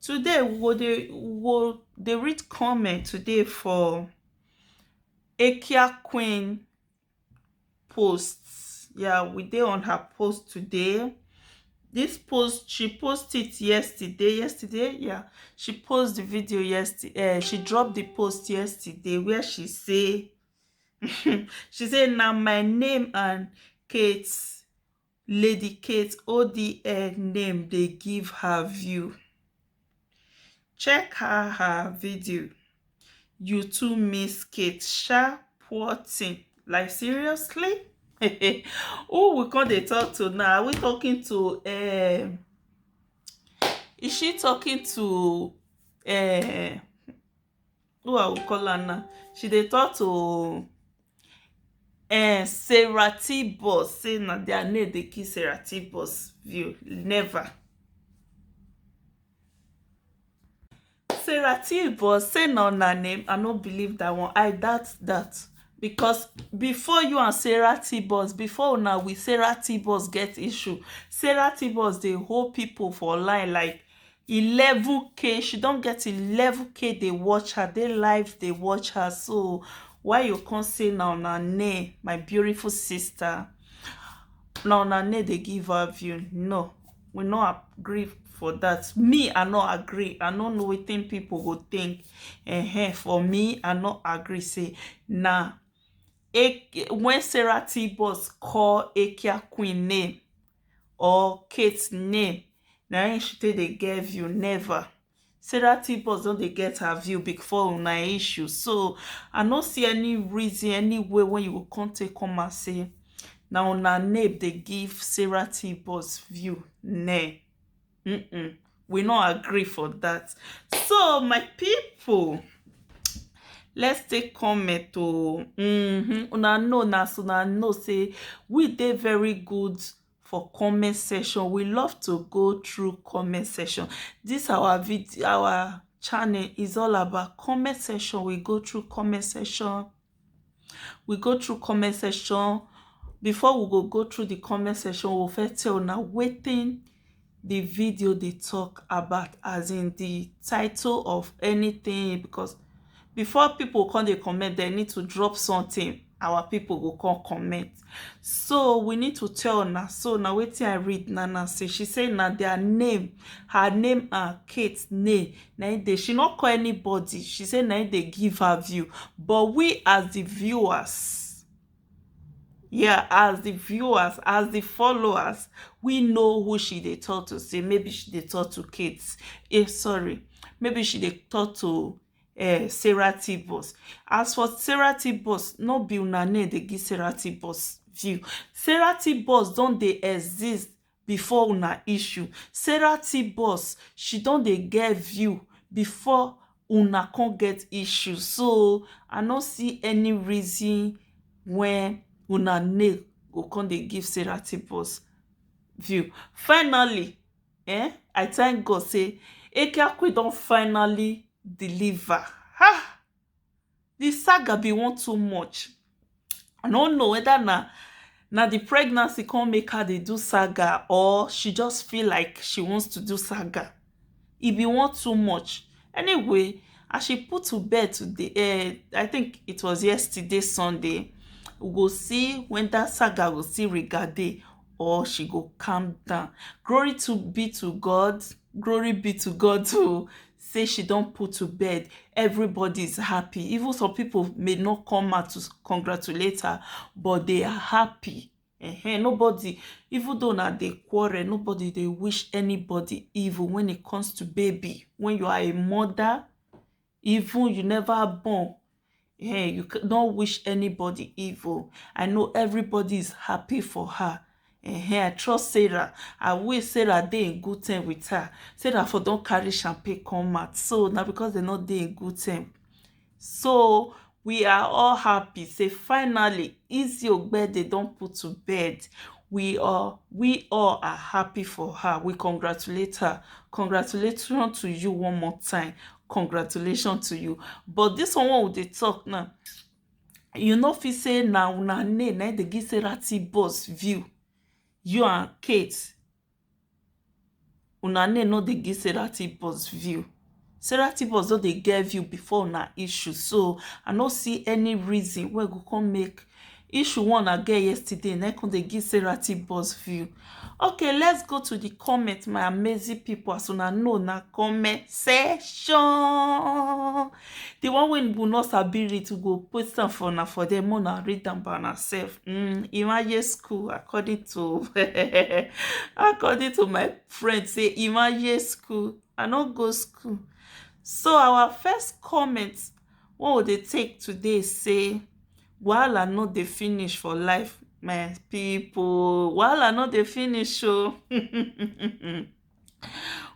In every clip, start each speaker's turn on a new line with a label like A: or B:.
A: Today we go dey we go dey read comment today for Ekia queen post. Ya we dey on her post today. Dis post she post it yesterday yesterday ya. She post de video yester um she drop de post yesterday where she say she say na my name and Kate lady kate odl name dey give her view check her her video you too miss kate sha poor thing like seriously who we come dey talk to now are we talking to um is she talking to um who I will call her now? She dey talk to uh, Sarah T Boss, say na their name dey kill Sarah T Boss view. Never. Sarah T Boss say na una name. I no believe that one. I doubt that. Because before you and Sarah T Boss, before una with Sarah T Boss get issue, Sarah T Boss dey hold people for line like eleven k she don get eleven k dey watch her dey live dey watch her so why you come say na una name my beautiful sister na una name dey give her view no we no agree for that me i no agree i no know wetin people go think uh-huh. for me i no agree say na when sarah t-boss call akia queen name or kate name na him she take dey get view never sarah too boss don dey get her view before una issue so i no see any reason any way wey you go come take come out say na una name dey give sarah too boss view neh mm-mm we no agree for that so my people let's take comment oh mm-hmm. una know na so una know say we dey very good for comment section we love to go through comment section this our video our channel is all about comment section we go through comment section we go through comment section before we go go through the comment section we go first tell una wetin the video dey talk about as in the title of anything because before people come dey comment they need to drop something our people go come comment so we need to tell na so na wetin i read na na say she say na their name her name and kate name na im dey she no call anybody she say na im dey give her view but we as the viewers yeah as the viewers as the followers we know who she dey talk to say maybe she dey talk to kate eh sorry maybe she dey talk to um sarah t boss as for sarah t boss no be una name dey give sarah t boss view sarah t boss don dey exist before una issue sarah t boss she don dey get view before una come get issue so i no see any reason wen una name go come dey give sarah t boss view finally um i thank god say ekeakue don finally deliver um the saga bin wan too much i no know whether na na the pregnancy come make her dey do saga or she just feel like she wants to do saga e bin wan too much anyway as she put to bed today um i think it was yesterday sunday we go see when that saga go still regard dey or she go calm down glory to be to god glory be to god to say she don put to bed everybody is happy even some people may not come out to congratulate her but they are happy uh-huh. nobody even though na dey quarrel nobody dey wish anybody evil when it comes to baby when you are a mother Even you never born, eh, you c- don't wish anybody evil. I know everybody is happy for her. Eh, I trust Sarah. I wish Sarah dey in good time with her. Sarah for don carry champagne come out. So now because they not dey in good time. So We are all happy say finally Izzy Ogbede don put to bed, we all we all are happy for her, we congratulate her, congratulation to you one more time, congratulation to you but this one wey we dey talk now you no fit say na una name na dey give Sarah T-Boss view, you and Kate Una name no dey give Sarah Tibos view. Sarah Tibos don dey get view before una issue so I no see any reason wey go come make issue wey una get yesterday na come dey give Sarah Tibos view. Okay let's go to the comment my amazing people as una know na comment section. The one wey will not sabi read we go post am for una for there more na read am by una sef mm, imagine school according to according to my friend say imagine school i no go school so our first comment wey we dey take today say wahala no dey finish for life my people wahala no dey finish o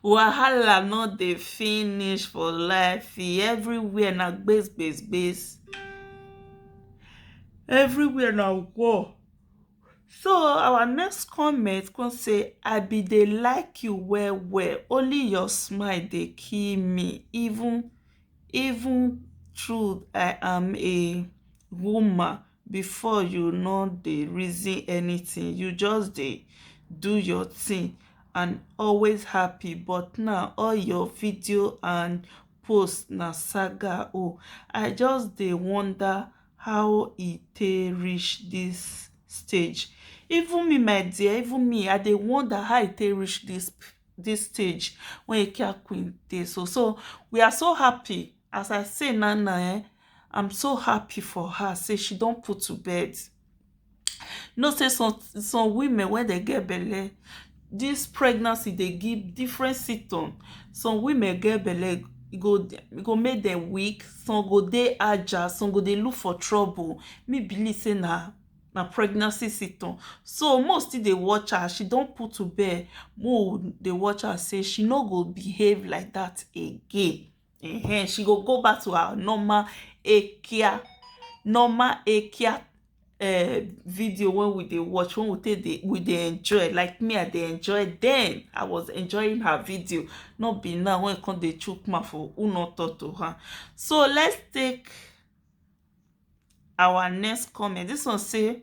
A: Wahala no dey finish for life e everywhere na gbas gbas gbas everywhere na war so our next comment come say I be dey like you well well only your smile dey kill me even even true I am a woman before you no dey reason anything you just dey do your thing and always happy but now all your video and post na saga oh i just dey wonder how e take reach this stage even me my dear even me i dey wonder how e take reach this this stage when Ikea Queen dey so so we are so happy As I see now now um I'm so happy for her say she don put to bed. You know say some some women when they get belle, this pregnancy dey give different symptom. Some women get belle e go e go make them weak, some go dey agile, some go dey look for trouble. Me believe say na na pregnancy symptom. So make we still dey watch her as she don put to bed, make we dey watch her say she no go behave like that again. uh-huh. she go go back to her normal ekia normal ekia uh, video when we dey watch when we take dey we dey enjoy like me i dey enjoy then i was enjoying her video not be now when e come dey chook mouth for who no talk to her so let's take our next comment this one say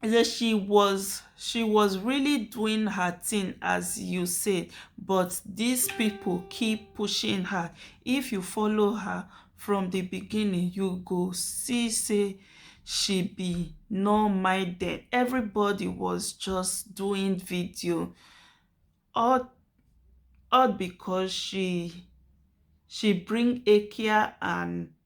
A: he say she was she was really doing her thing as you say but dis pipo keep pushing her if you follow her from di beginning you go see say she be nonminded everybody was just doing video all all becos she she bring eke and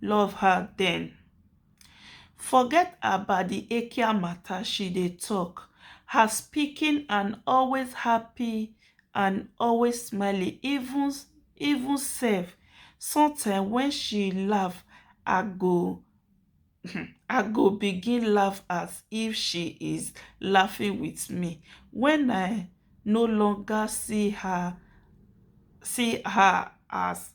A: love her then forget about the ekia matter she dey talk her speaking and always happy and always smiling even even sef sometimes when she laugh i go i go begin laugh as if she is laughing with me when i no longer see her see her as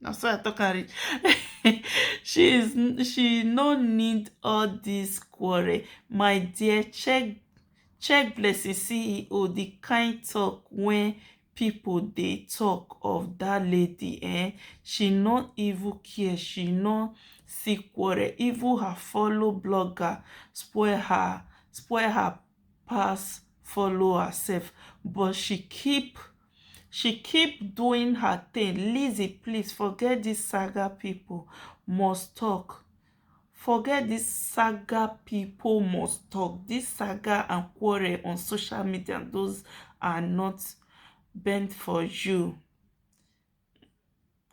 A: na so I talk am reach she is she no need all this quarrel my dear check check blessing ceo the kind talk when people dey talk of that lady eh she no even care she no see quarrel even her follow blogger spoil her spoil her pass follow herself but she keep she keep doing her thing lizzy please forget this saga people must talk forget this saga people must talk this saga and quarrel on social media those are not bent for you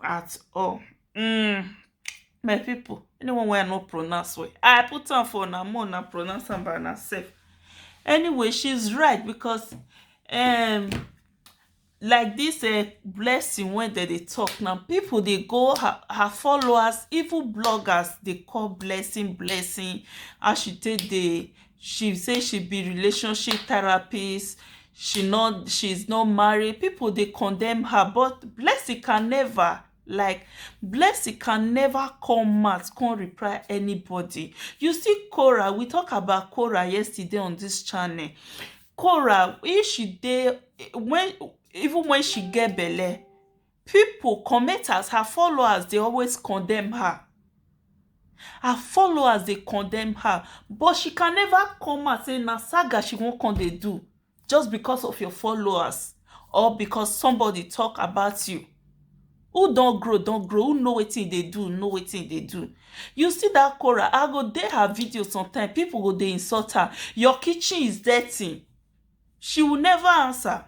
A: at all um my people anyone wey i no pronounce well i put am for una more una pronounce am by una sef anyway she's right because um like this uh, blessing wey dem dey talk now people dey go her, her followers even bloggers dey call blessing blessing how she take dey she say she be relationship therapist she not she's not married people they condemn her but blessing can never like blessing can never come out come reply anybody you see cora we talk about cora yesterday on this channel cora if she dey when even when she get belle Pipo comment as her followers dey always condemn her her followers dey condemn her but she can never come out say na saga she wan come dey do just because of your followers or because somebody talk about you who don grow don grow who know wetin e dey do know wetin e dey do you see that Korah I go dey her video sometime pipo go dey insult her your kitchen is dirty She will never answer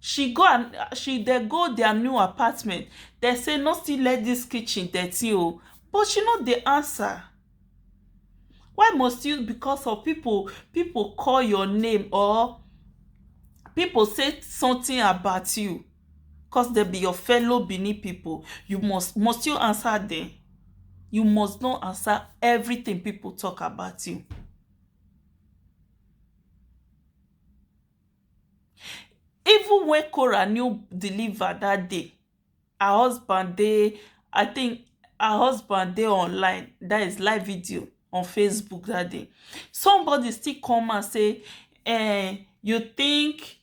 A: She go and she dem go dia new apartment dem say no still let dis kitchen dirty oo but she no dey answer Why must you because of people people call your name or people say something about you cos dem be your fellow Benin people you must must you answer dem you must not answer everything people talk about you Even wen Cora no deliver dat day her husband dey I tink her husband dey online dat is live video on Facebook dat day somebody still come out say um you tink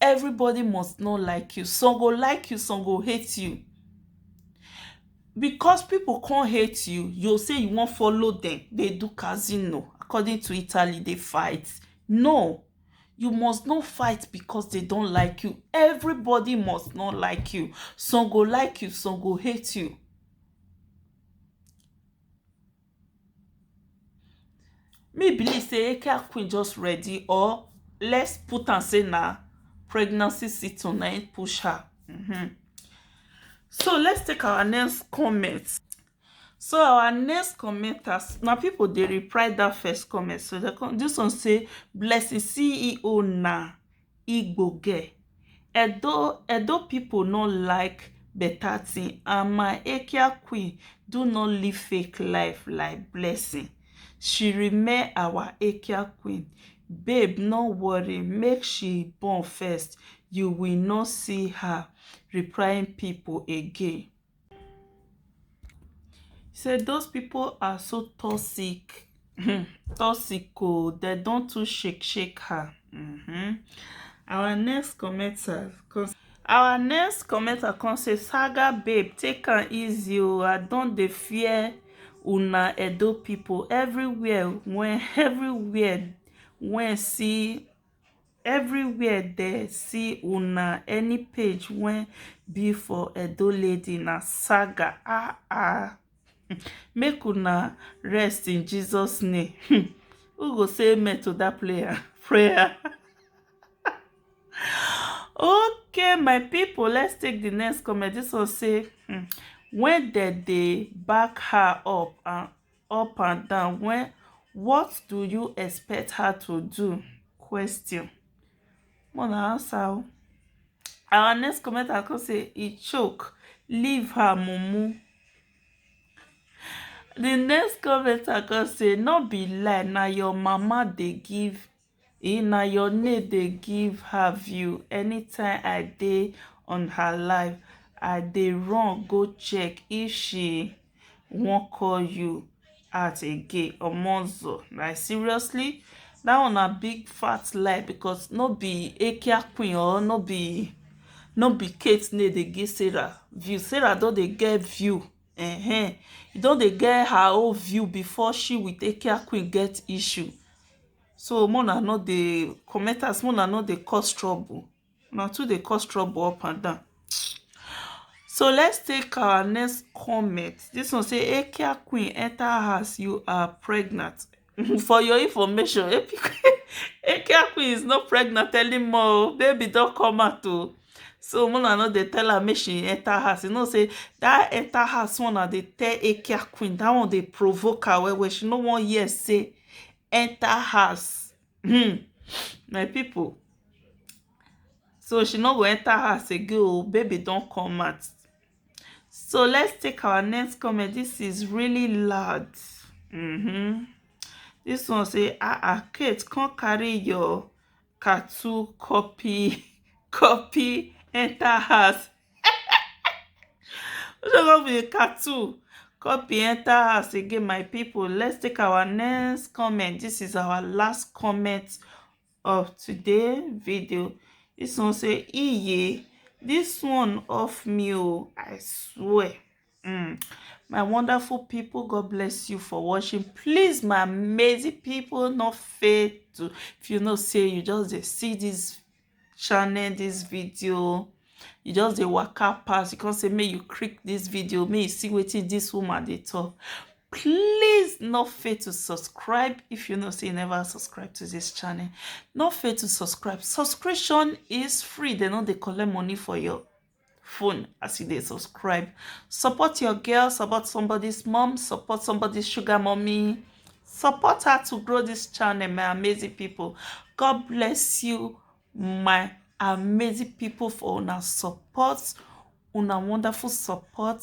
A: Everybody must no like you, some go like you some go hate you because pipu come hate you, you go say you wan follow dem dey do casino according to Italy dey fight no you must no fight because dey don like you, everybody must no like you some go like you some go hate you. Me believe sey hair queen just ready or let's put am sey na pregnancy situ na im push her um. So let's take our next comment. So our next commenters na people dey reply dat first comment so dey come dis one say Blessing CEO na Igbo girl. Edo Edo people no like better thing and my Ekia queen do not live fake life like blessing. She remain our Ekia queen. Babe no worry make she born first you will no see her replying people again. Sey those pipu are so toxic um toxic oo dem don too shake shake her um. Our next commenter come our next commenter come say saga babe take am easy oo I don dey fear una Edo pipu everywhere wen everywhere wen see everywhere dey see una any page wey be for edo lady na saga ah ah make una rest in jesus name hmm. who go say amen to that prayer prayer okay my people let's take the next comment this one say hmm, when dem dey back her up and up and down when what do you expect her to do question more na answer o our next comment i come say e choke leave her mumu the next comment i come say no be lie na your mama dey give E na your name dey give her view anytime I dey on her live I dey run go check if she wan call you out again omozo like seriously that one na big fat lie because no be Akia queen or no be no be Kate name dey give Sarah view Sarah don dey get view ehen e don dey get her own view before she with Akia queen get issue So make una no dey commenters, make una no dey cause trouble. Una too dey cause trouble up and down. So let's take our next comment. This one say Ekia Queen enter house, you are pregnant. For your information, Ekia Queen is not pregnant anymore. Baby don't come out too. So make una no dey tell her make she enter house. You know say that enter house one na dey tell Ekia Queen. That one dey provoke her well well. She no wan hear say enter house um my people so she no go enter house again oh baby don come out so let's take our next comment this is really loud mm -hmm. this one say ah ah kate come carry your Katou copy copy enter house. Ojo go be Katou copy enter house again my people. Let's take our next comment. This is our last comment of today video. This one say iye this one off me oh, I swear. Mm. My wonderful people, God bless you for watching. Please, my amazing people, not fail to, if you know, say you just see this channel, this video, you just dey waka pass you come say make you click this video make you see wetin this woman dey talk please no fail to subscribe if you know say you never subscribe to this channel no fail to subscribe subscription is free they no dey collect money for your phone as you dey subscribe support your girl support somebody's mom support somebody's sugar mommy support her to grow this channel my amazing people god bless you my amazing people for una support una wonderful support